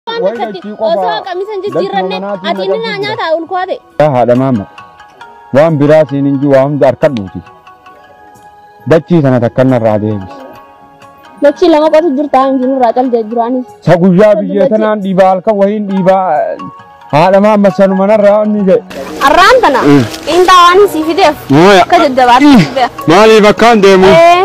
Waan Wayi akkatti dachii qofaa. osoo qamisa hin jijjiirranne Dachuma manaatiin ati inni naa naqamsiisudha. nyaataa ulkoo ta'e. Yaa haadha maama waan biraa siin hin jiru waa hunda harkadhuuti. Dachii sana takkan narraa deebisi. Dachii lama qotu jirtaa hin jiru irraa callee jiraanis. Sa guyyaa biyyee tanaan dhiibaa halkan wayiin dhiibaa haadha maama sanuma narraa inni ta'e. Arraan tana xiinxaa waan hin sii fideef Mooya. akka jajjabaatti. Maaliif akkaan deemu? Eh,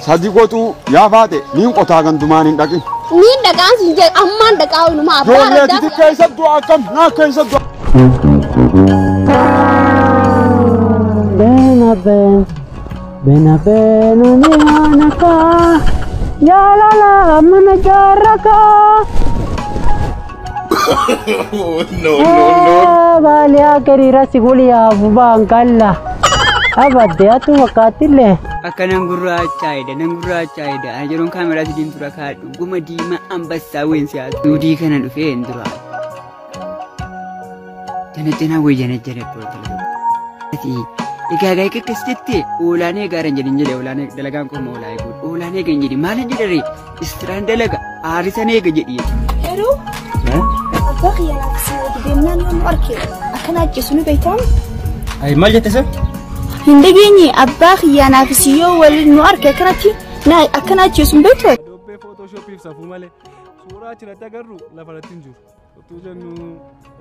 Sadi gotuu yaa faate niin qotaa gandumaan hin dhaqin. Niin dhaqaan siin jee ammaan dhaqaa ooluma abbaa Joollee raddaa. titi keessa du'a akkam naa keessa du'a. Bena ben, bena ben umianaka, yalala manajara Baali akari rasi kuliyaa bubaan kalla. Abadde atu fakkaattillee. Akka nan gurraachaa'edha nan gurraachaa'edha ani yeroon kaameraa sidiin dura kaadhu guma diimaa ambassaa ween siyaasa. Duudii kana dhufee hin dura. Janajjanaa wayii janajjana iddoo dalagaa. Egaa egaa egaa akkasitti oolaan eegaa hin jedhin jedhe oolaan dalagaan qofa oolaan eeguudha oolaan eegaa hin jedhin maal hin jedhare Istiraan dalaga aarisan eega jedhi jechuudha. Yeroo abbaa kiyya laafisee wajji deemnaan yommuu arke akkana ajjeesu ni beektamu. Ayi maal jette san? Hin dhageenye abbaa kiyya naafisii yoo waliin nu arke akkanatti na- akkana ajjeesu hin beektu. Adoobee footooshoopiif safuu malee suuraa achirratti agarru lafarratti hin jiru. Utuu jennu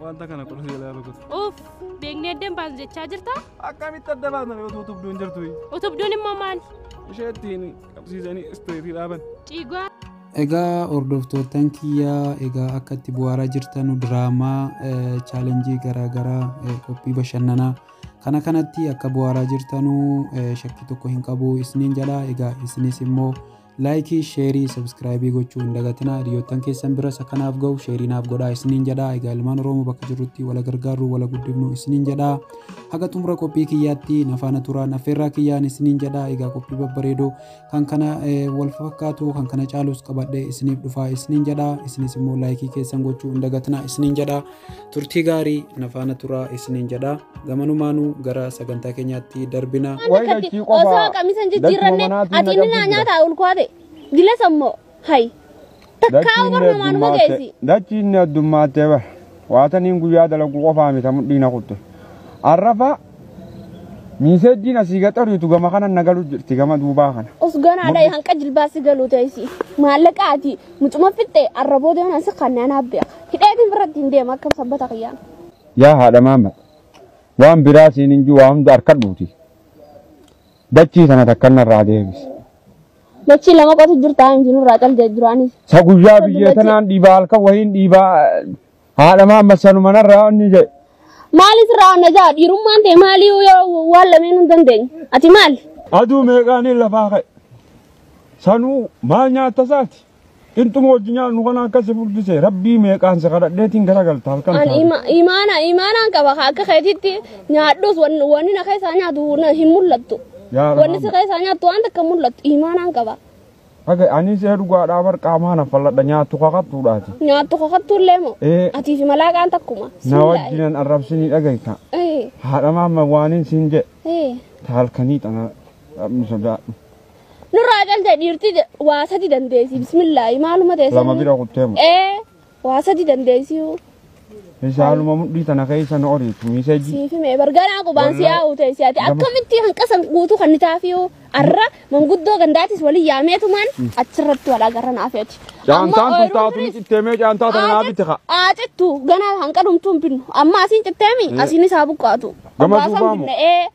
wanta kana qola jalaa rukutu. Uuf, beeknee adda hin baasnu jechaa jirta? Akkamitti adda baasna utuu tubduun jirtu? Utubduun immoo maali? Ishee ittiin qabsiisanii isteetii dhaaban. Ciigoo. Egaa hordoftoottan kiyyaa egaa akka itti bu'aaraa jirtanu diraamaa chaalenjii garaagaraa qophii bashannanaa kana kanatti akka bu'aaraa jirtanu shakkii tokko hin qabu isiniin jedha egaa isinis immoo Laayikii, sheerii, sabskraayibii gochuu hin dagatinaa. Hiriyoottan keessan biras akka naaf ga'u sheerii naaf godhaa isiniin jedhaa. Egaa ilmaan Oromoo bakka jirrutti wala gargaarru wala guddifnu isiniin jedhaa. Haga xumura qophii kiyyaatti na faana turaan affeerraa kiyyaan isiniin jedhaa. Egaa qophii babbareedoo kan kana eh, wal fakkaatu kan kana caalus qabadhee isiniif dhufaa isiniin jedhaa. Isinis immoo laayikii keessan gochuu hin dagatinaa isiniin jedhaa. turtii gaarii na faana turaa isiniin jedha gamanumaanuu gara sagantaa keenyaatti darbina Wayna Akkatti achii qofa osoo qamisa hin jijjiirranne galchuma manaatiin ati inni na naa qabsiisa. nyaata ulkoate gilas ammoo hay takkaa barnumaan nu geessi. Dachiin addummaattee bara. Waataniin guyyaa dalaguu qofaa mita mudhiina kutte. Arrafa Miiseejjiin asii gaxariitu gama kanan na galu jirti gama duubaa kana. Os ganaa dhayi hanqa jilbaasi galuu ta'isi. Maallaqa ati mucuma fixxee arraboo deeman asi kan naan haabbeeka. Hidheetiin biratti hin deema akkam sabbata kiyyaan. Yaa haadha maamma waan biraa siin hin jiru waa hunda harkadhuuti. Dachii sana takkan narraa deebisi. Dachii lama qotu jirtaa hin jirurraa callee duraanis. Sa guyyaa Sa biyyee dullachee. tanaan dhiibaa halkan wahiin dhiibaa Haadha maamma sanuma narraa onni jedhe. Maali sirraa onna jaa dhiirummaan ta'e maalii yoo waan lameen hin dandeenye. Ati maali? Aduu meeqaaniin lafaa ka'e. Sanuu maal nyaatta isaati? Qinxuma hojii nyaannu kana akkasi furdise rabbii meeqaan si kadhadheetiin garagalta halkan Ani taate. ima- imaana imaanaan qaba ka akka keetitti nyaadhus wan- wanni na keessaa nyaatu na- hin mul'attu. Yaa Rabbi. Wanni si keessaa nyaattu waan takka hin mul'attu imaanaan qaba. Aga anis ee dhugaadhaa bar qaamaa na falladha nyaattu kakattuudhaati. Nyaattu kakattuullee moo? Ee. Atii fi malaaqaan takkuma. Na wajjinan arrabsinii dhagayta. Ee. Haadha maamma waaniin siin jedhe Ee. ta halkanii tana dhabni sodaadhu. Nurraa calta dhiirti je- waa sadi dandeessi bismillaahi maaluma ta'e Lama sirni. bira kuttee moo? Ee. Waa sadi dandeessiyuu. Haaluma mudhii tana keessa na oriitu miiseeji. Siif himee barganaa qubaan si yaa'u ta'e si'ati akkamitti hanqasan guutuu kan ni taafiyuu arra manguddoo gandaatis waliin yaameetumaan achirratti wal agarra naaf ati. Caantaan tun taatu ni citteemee caantaa tana naa bitti kaa. Aacittu ganaa hanqalumtuun binnu amma asiin citteemi asiinis haa buqqaatu. Gama Obbaasaan duubaa moo? binna ee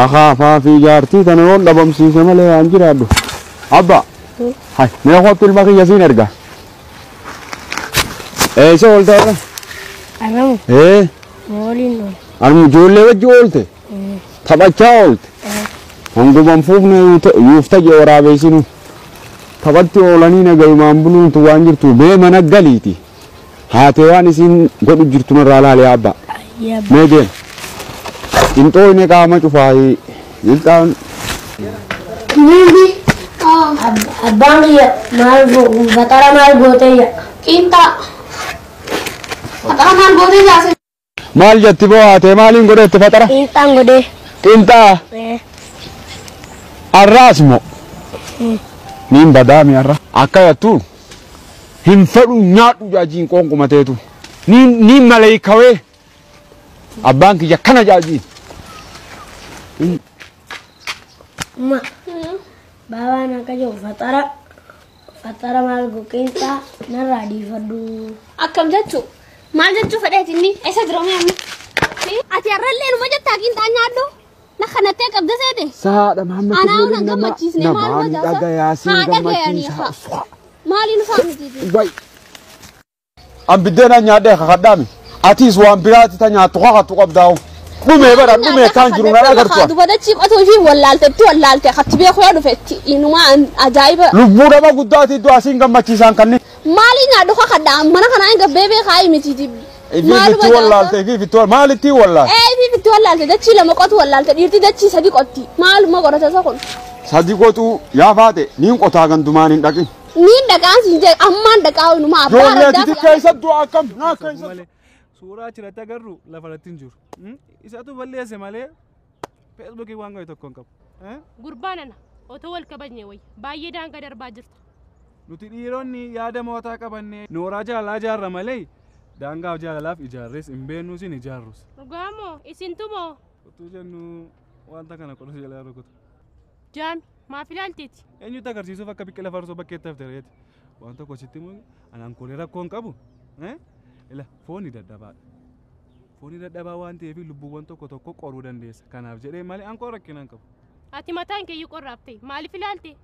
Akaafaa fi jaartii tana yoon dhabamsiise malee haa hin jiraadhu. Abbaa! Hay, mee kottu ilma kiyya siin erga. Eessa oolte har'a? Arramu Ee, mooliin oole. armu ijoollee wajji oolte? Taphachaa oolte? Hanguma hin fuufne yuuta- yuufta jee waraabeessinu. Taphatti oolanii nagayumaan buluuntu waan jirtu bee mana galiiti. Haatee waan isiin godhu jirtu narraa laali yaa abbaa. Ayyee abbaa. Mee deema. Qinxoo inni qaama cufaayi. Lilxaan Niiti abbaan kiyya maal godhu baxara maal gootee yaa. Qiinxaa. Baxara maal gootee yaa. Maal jetti boohaatee maaliin godheetti faxara? Qiinxaan godhee. Qiinxaa? Ee. Arraas moo? Niin badaa mi arra? Akka yattu hin fedhu nyaadhu jaajiin qoonquma teetu. Niin niin maleeykawee abbaan kiyya kana jaajiin. Ma. Baabaan akka jiru faxara. Faxxara maal goqeenxa narraa dhiifadhu. Akkam jechu? Maal jechuu fedheeti inni? Eessa jira mee amma? Ati har'allee numa jettaa qiinxaa nyaadhu? Na kanattee qabda seete? Saadha Mahammad Anaa Kulluu na nama gammachiisne maal namaan goota? dhagayaa siin Haa dhagayanii gammachiisa. haa. Maaliin isaa mitiiti? Way An biddeenan nyaadhee kakadhaami. Atiis waan biraati ta nyaattu kakattu qabdaa'u. Dhumee bara dhumee kaan jiru nan agartu. an. Dubata ciqotuu fi wallaaltetti wallaalte akkatti beeku yoo dhufetti inumaa an ajaa'iba. Lubbuu nama guddaati iddoo asiin gammachiisaan kanni. Maalii nyaadhu kakadhaa mana kanaa hin gabbee beekaa hii miti jibbi. Ifiif itti wallaalte ifiif itti wallaalte maal itti wallaalte? Ee ifiif itti wallaalte dachii lama qotu wallaalte dhiirti dachii sadi qotti maaluma qorata isa kun. Sadi qotuu yaa faate niin qotaa gandumaan hin dhaqin. Niin dhaqaan siin jedhe ammaan dhaqaa inuma abbaa Joollee argaa titi fi keessa du'a akkam naa Tokko keessa. malee suuraa achirratti agarru lafa irratti hin jiru. Mm? Isatu balleesse malee feesbuukii waan godhe tokko hin qabu. Eh? Gurbaa nana otoo wal kabajne wayya baay'ee daangaa darbaa jirta. Nuti dhiironni yaada mootaa qabannee nooraa jaalalaa ijaarra malee daangaaf jaalalaaf ijaarres hin beeknus hin ijaarrus. Dhugaa moo isintu moo Utuu jennu wanta kana qoruuf jalaa rukutu. jaami Maaf ilaaltiti? Eenyutti agarsiisuuf akka biqila farsoo bakkeetti hafte reeti. Waan tokko sitti himu anaan koolee rakkoo hin qabu. Eh? Ila fooni dadhabaadha. Fooni dadhabaa waan ta'eef lubbuuwwan tokko tokko qoruu dandeessa. Kanaaf jedhee malee an koo rakkina hin qabu. Ati mataan kee iyyuu qorraaf ta'e. Maaliif ilaalte?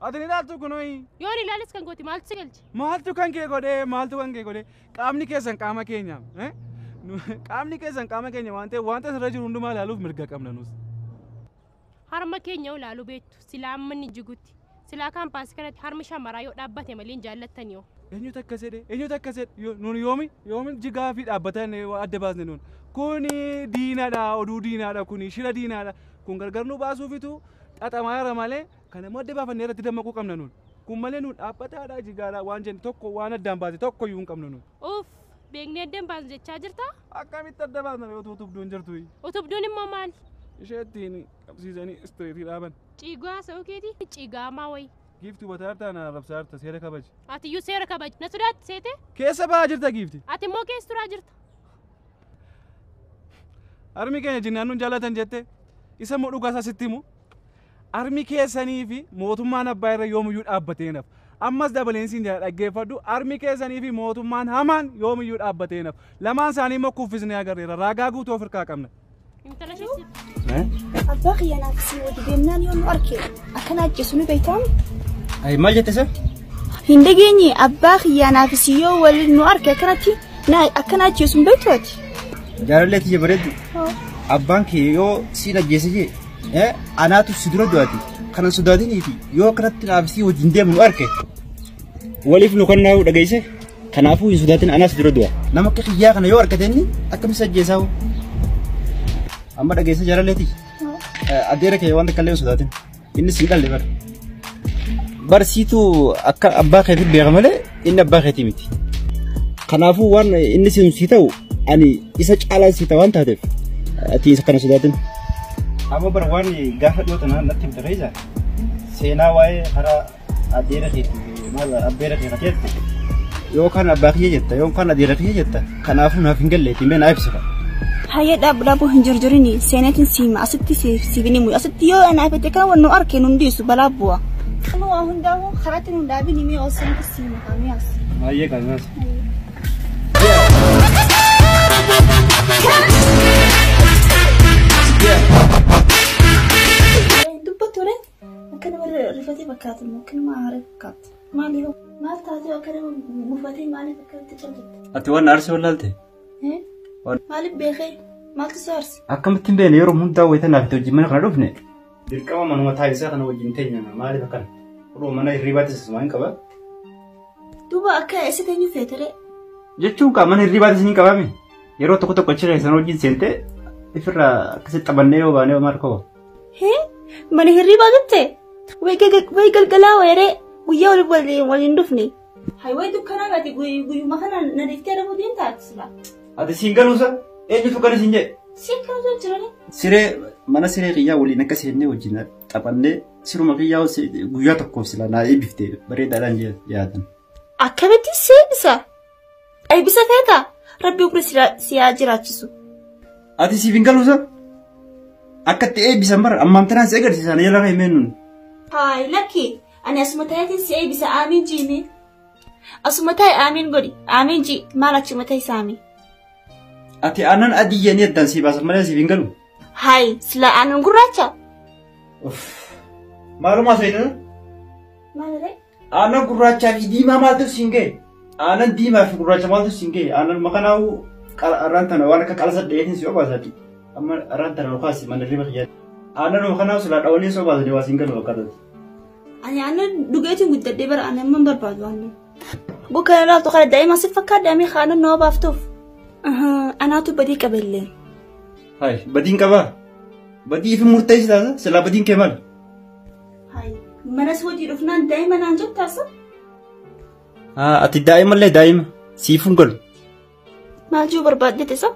Ati ni ilaaltu kunooyi. Yoon ilaales kan kooti maaltu si galche? Maaltu kan kee godhee? Maaltu kan kee godhee? Qaamni keessan qaama keenya. Eh? Nu- Qaamni keessan qaama keenya waan ta'eef wanta asirra jiru hundumaa ilaaluuf mirga qabna nus. Harma keenya yoo ilaalu beektu silaa amma inni jigutti silaa kaampaasi kanatti harmi shamaraa yoo dhaabbate malee hin jaallattan yoo. Eenyutu akkas jedhe eenyutu akkas jedhe yoo nuun yoomi yoomi jigaa fi dhaabbatan eh, waa adda baasne nuun kuni diinadha oduu diinaadha kuni shira diinaadha kun gargar nu baasuufitu xaxamaa irra malee kan ammoo adda baafannee irratti dammaquu qabna nuun kun malee nuun dhaabbataadha jigaadha waan jenne tokko waan addaan baase tokko iyyuu hin qabnu nuun. Uuff Beeknee adda hin baasnu jechaa jirta. Akkamitti adda baasna ree utuu utubduun jirtu? Utubduun immoo maali? Ishee ittiin qabsiisanii istireetii dhaaban. Ciigaa haasa'uu keetii ciigaamaa wayi. Giifti hubataa jirtaa na arrabsaa jirta seera kabaji. Ati iyyuu seera kabaji. Na sodaatti seetee? Keessa ba'aa jirta giifti. Ati immoo keessa turaa jirta. Harmi keenya jinnaan nun jaallatan jette isa immoo dhugaa isaa sitti himu. Armi keessanii fi mootummaan abbaa irra yoomiyyuu dhaabbatee hin hafu. Ammas dabaleen siin jedha dhaggeeffadhu, armi keessanii fi mootummaan hamaan yoomiyyuu dhaabbatee hin hafu. Lamaan isaanii immoo kuffisnee agarreera. Raagaa guutuu of irkaa qabna. Intala ishee Abbaa kiyya naaf si wadi deemnaan yoo nu arke akkana ajjeesu ni beektamu. Ay, maal jette sir? Hin dhageenye abbaa kiyya naaf si yoo waliin nu arke akkanatti na akkana ajjeesu hin beektu ati. Jaalallee tiyya bareeddu. Abbaan kee yoo siin ajjeese jee Eh, anaatu si dura du'ate. Kana sodaatiniifi yoo akkanatti naaf si wajjin deemu nu arke. Waliif nu kan naa'u dhageesse. Kanaafuu hin sodaatin anaas dura du'a. Nama akka kiyyaa kana yoo argate inni akkamitti si ajjeesaa hoo? Amma dhageesse jaalalleeti. Adeera kee waan takka illee hin sodaatin. Innis hin dhalle bara. Barsiituu akka abbaa keetiin beeka malee Inni abbaa keetii miti. Kanaafuu waan inni sin si ta'u ani isa caalaa si ta'a waan taateef ati isa kana sodaatin. Amma bara waan gaafa dhiyoo tanaa natti himte keessa seenaa waa'ee karaa adeera keetii maal abbeera keetii jette yookaan abbaa kiyya jetta yookaan adeera kiyya jetta Kanaafuu naaf hin galleetii mee naa ibsita. Hayyee dhaabbu dhaabbu hin jirjirini seeneetiin siima asitti siibini muyi asitti yoo anaa fete kan wannu arke nun dhiisu balaa bu'a. Kan waa hundaa'u karatti nun dhaabini mee osoo hin siima kaamee as. Hayyee kaamee as. Dubbattu ree akkanuma rifatee fakkaatu akkanuma haaree fakkaatu. Maali hoo? Maal taatee akka nama gufatee maaliif akkamitti callitte? Ati waan na arsee wallaalte? Eh? Waan- Maaliif beekee? Maaltu si aarse? Akkamitti hin beekne yeroo hundaa wayita naaf itti wajjin mana kana dhufne. Dirqama manuma taasisaa kana wajjin teenya maaliif akkana? Oduu mana hirriibaa teessisuma hin qaba. Duuba akka eessa teenyu feetere? Jechuun kaa mana hirriibaa teessin hin qabame. Yeroo tokko tokko achi keessan wajjin seentee ifirraa akkasitti taphannee yoo baanee maal koo? Hee? Mana hirribaa gatte? Way gaga- way galgalaa weeree guyyaa wal wal- wal hin dhufne. Haywee dukkanaa gaati guyyuma kana na dhiftee dhabuu deemtaati silaa. Ati siin galuusa eenyutu gala siin jedhe? Si akkamtu jirani? Siree mana siree kiyyaa waliin akka seennee wajjin taphannee siruma kiyyaa si- guyyaa tokkoof sila naa eebbiftee bareedaadhaan jee- yaadame. Akkamitti seensa? Eebbisa feeta? Rabbi umri si haa jiraachisu. Ati siif hin galuusa? Akka itti eebbisan bara ammaan tanaan si agarsiisa na jala kaa'imee nun. Haay lakki ani asuma ta'eetiin si eebbisa aamiin jiimee. Asuma ta'e aamiin godhi aamiin ji maal achuma ta'e saami. Ati aannan adii jedhanii addaan si baasan malee siif hin galu. Haay sila aannan gurraacha. Maalumaa seetan? Maaliree? Aannan gurraachaa fi diimaa maaltu siin ga'e? Aannan diimaa fi gurraacha maaltu siin ga'e? Aannan makanaa'uu arraan tana waan akka qalasa dhayeetiin si obaasaati. Amma arraan tana nukaasi mana riba kiyyaa. Aannan makanaa'uu silaa dhawanii si obaasanii waa siin galu fakkaatati. Ani aannan dhugeetiin guddadhee bara aannan man barbaadu aannan. Guu kana laaftu kana daa'ima si fakkaadha amee aannan nama baaftuuf. Anaatu badii qabellee. Hayi badiin qabaa? Badii fi murteessi taasa silaa badiin kee maali? Hayi, manas hojii dhufnaan daa'ima naan jettaa sun? Haa, ati daa'imallee daa'ima. Siifun galu. Maal jechuu barbaaddete sun?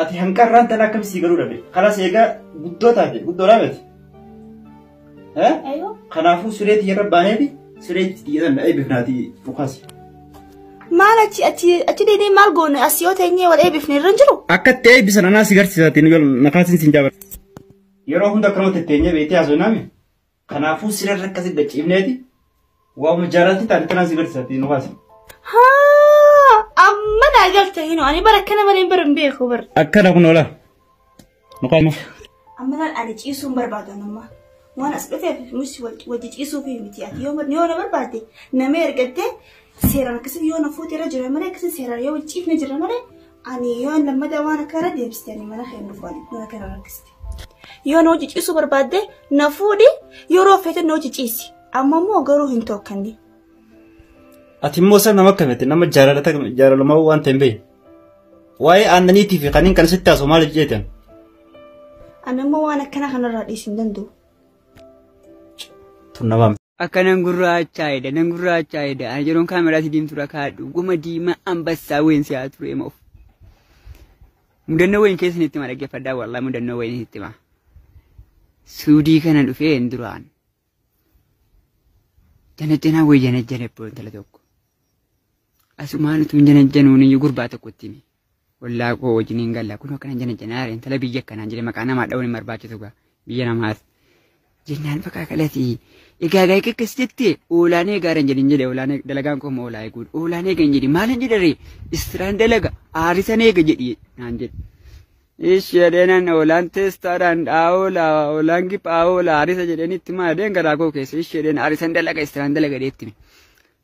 Ati hanqarraan tan akkam sii galuu dhabe. Kanas eegaa guddoo taate, guddoodhaa miti. Eh? Ayoo. Kanaafuu siree tiyyarra baaneeti siree itti xiyyeetan dha'ee bifnaati dhukaasi. Maal achi achi achi deedee maal goone as yoo teenyee wal eebifne irra hin jiru? Akka itti eebbisan anaa si garsiisaatiin yoo nakaatiin siin jaabata. Yeroo hunda akkanuma tetteenyee beektee haasofnaami. Kanaafuu sireen rakkasi gachiifneeti. Waamuma jaalatti taate tanaan si garsiisatti nu haasa. Haa amma naa galte hino ani bara akkana malee bara hin beeku bara. Akkana kun oola. Nu qaama. Amma laal ani ciisuun barbaadu amma. Waan as dhufeef nuti wajji ciisuuf miti ati yoo yoo na barbaadde nama ergattee seeraan akkasii yoo na fuute irra jira malee akkasii seeraan yoo wajji ciifne jira malee Ani yoon lammada waan akka irra deebiste ani mana kee hin dhufu ani mana kee irra rakkiste. Yoo na hojii ciisuu barbaadde na fuudhi yeroo feete na hojii ciisi. Amma immoo garuu hin tokkanne. Ati immoo isa nama akkamitti nama jaalalata jaalalamaa waan ta'e hin beekne. Waa'ee aannaniitii fi kanneen kana sitti haasoo maaliif jeetan? Ani immoo waan akkana kanarraa dhiisuu hin danda'u. Tun nama Akka nan gurraachaa'edha nan gurraachaa'edha ani yeroon kaameraatti diimtuudha kaadhu goma diimaa ambassaa wayiin si'aa turee moof. Mudannoo wayiin keessan itti hima dhaggeeffadhaa wallaa mudannoo wayiin itti hima. Suudii kana dhufee hin duraan. Janajjanaa wayii janajjana ibboo intala tokko. Asumaan utuu hin janajjanuun iyyuu gurbaa tokkotti himi. ollaa koo wajjin hin galla kun akkana jana janaa intala biyya akkanaan jedhe maqaa namaa dha'uun hin barbaachisu gaa biyya namaas jennaan bakka kalati egaa gaa akkas jette oolaan eegaa hin jedhin jedhe oolaan dalagaan koo immoo oolaa eeguudha oolaan eega hin jedhin maal hin jedharee istiraan dalaga aarisan eega jedhi naan jedhe. Ishi jedheenan oolaan teestaadhaan dhaa'oola oolaan giphaa'oola aarisa jedheen itti maa jedheen garaa koo keessa ishi jedheen aarisan dalaga istiraan dalaga jedhee itti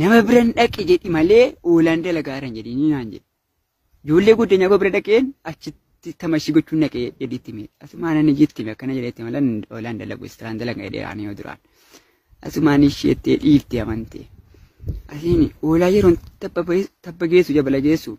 Nama biran dhaqi jedhi malee oolaan dalagaa irra hin jedhinii naan jedhe. Ijoollee guddinyaa koo bira dhaqeen achitti tamashii gochuun dhaqee jedhi itti mee. Asumaan ani jetti mee akkana jedheetti malee oolaan dalagu istiraan dalaga jedhee aanee yoo duraan. Asumaan isheettee dhiifte amantee. Asiin oolaa yeroon tabba geessu jabala geessu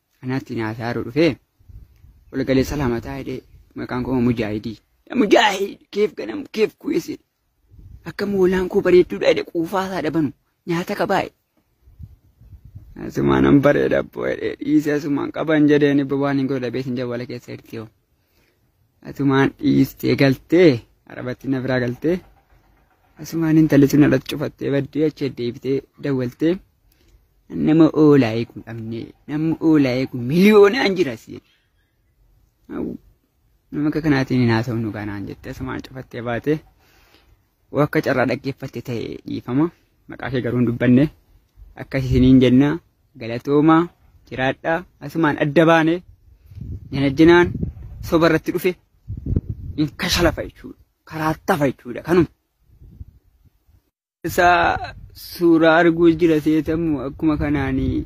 Anaatti naa saaruu dhufee walgalee salaamataa hidhee maqaan koo mujaahidii. Mujaahid keef ganam keef kuyeesee akka moolaan koo bareedduudha jedhe quufaa isaa dhabanu nyaata qabaa'e. Asumaan an bareeda abboo jedhee dhiisee asumaan qaban jedheen ibba waan hin godhu dhabee sin jawwala keessa hirtiyoo. Atumaan dhiistee galtee arabattiin na biraa galtee asumaan intalli sun alatti cufattee baddee achi deebitee dawwaltee nama oolaa eegu dhabne nama oolaa eegu miliyoonaan jira si nama akka kanaatiin hin haasofnu kanaan jettee asumaan cufattee baatee Yoo akka carraa dhaggeeffatte ta'e dhiifama. Maqaa kee garuu hin dubbanne. Akkas isiniin jenna galatoomaa jiraadhaa asumaan adda baane janajjanaan soba irratti dhufe hin kashalafa jechuudha. Karaa tafa jechuudha kanuma. Isaa suuraa arguu jira seetamu akkuma kanaanii.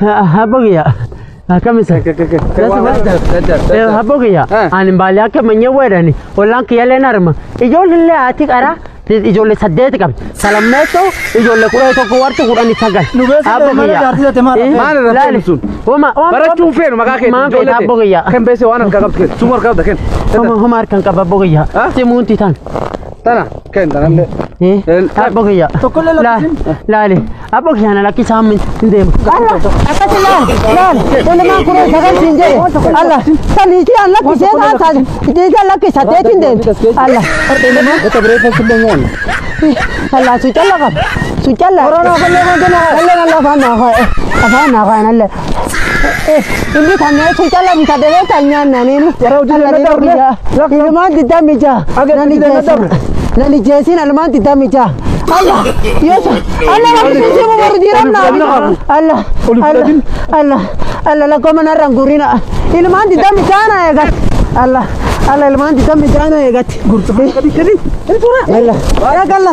Habbo kiyya akkam isa? Habbo kiyya ani baalee akka manyee weedhani ollaan kiyya leen arma ijoollee haati qaraa ijoollee saddeeti qabdi salammeessoo ijoollee kudha tokko warti kudhanii sagal. Nu beeksisa Habbo malee kiyya. jaartii jette maal dhabee? Maal irratti Laali. ibsuun? Homa homa Barachuun feenu maqaa keetti. Maan feeta habbo kiyya. Kan beese waan harkaa qabdu keessa. Suma harkaa qabda kenna. Homa homa harkaan qaba habbo kiyya. Ah? Simuunti tan. Tana ken tana le. Abbo kiyya. Tokkollee lakkisin. Laali. Abbo kiyya na lakkisaa min hin deemu. Alla akkasi laali laali ilimaan kun sagal siin jedhe alla saliitii an lakkisee taan taate deetii an lakkisa deetiin deemte alla Eta bere fa kulle ngon. alla su calla qaba su calla. Korona kallee kan kenna. Alla kan lafa naa ka'e afaan naa ka'e alla. Inni kan nyaatu cala bita debe kan nyaanna ninu. Yeroo hojii Alla dheeraa dheeraa biyyaa. turre, rakkoon- Ilmaan diddaa mijaa. Aga Nani diddaa jeesin. dabre. Nani jeesin ilmaan diddaa mijaa. Alla yesu alla rabbi sisi mu baru diram na Oli fudhatin. alla Oli alla fudhatin. alla alla la koma na rangurina ilmaan diddaa mijaa na eegat alla alla ilmaan diddaa mijaa na eegat gurtufi kadi kadi alla alla